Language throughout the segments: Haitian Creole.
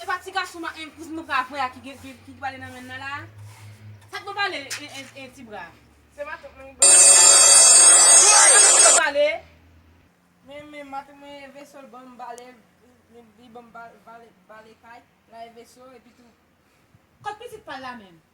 E pa ti gason ma en kouz m pral voye a ki gen ki ki pale nan menn nan la a? Sak mwen pale en en en ti bra? Se matant mwen ki pale. Sa mwen pral pale? Men men matant mwen e veso l banm bale li li banm ba bale bale kay la e veso epi tou. Kot pitit pal la menm?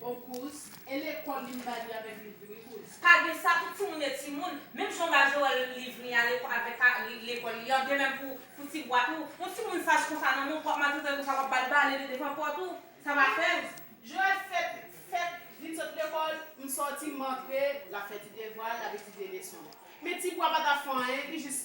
Bon kouz, e lekòl li ba li avèk liv li wi kouz. Pa gen sa tout timoun e timoun, menm jan w ba Joel liv li a lekòl avèk ka lekòl li an, de menm pou pou ti bwa tou. Yon timoun saj konsa nan men w wap maltrete l konsa wap ba l bale li devan pòt ou, sa va fè l. Joel fèt fèt vin sot lekòl, m sòti m antre, l ap fè ti devwa l, l ap etidye leson l. Men ti bwa pa ta fè anyen, li jis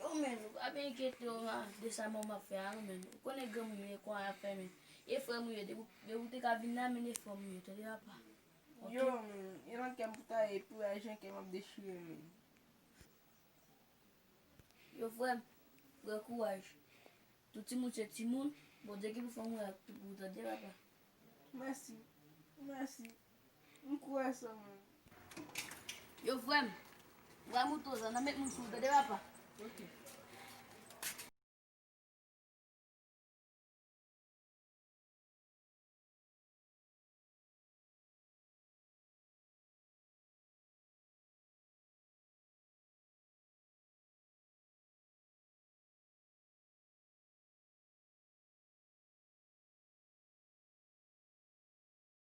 Yon menn ou pa byen enkyete ou nan de sa manman ap fè a non menn ou konnen granmoun yo e kò a yap fè menn e frèm ou yo depi ou te ka vin la menn e frèm ou yo tande papa Yo menn yo nan kèm pou ta ye pou la jan kèm ap dechire menn Yo frèm pran kouraj tout timoun se timoun Bondye ki pou fè yon mirak pou ou tande papa Mèsi mèsi. M kwè sa mwen. Yo frèm. Wè mouton sa nan met moun sou tande papa.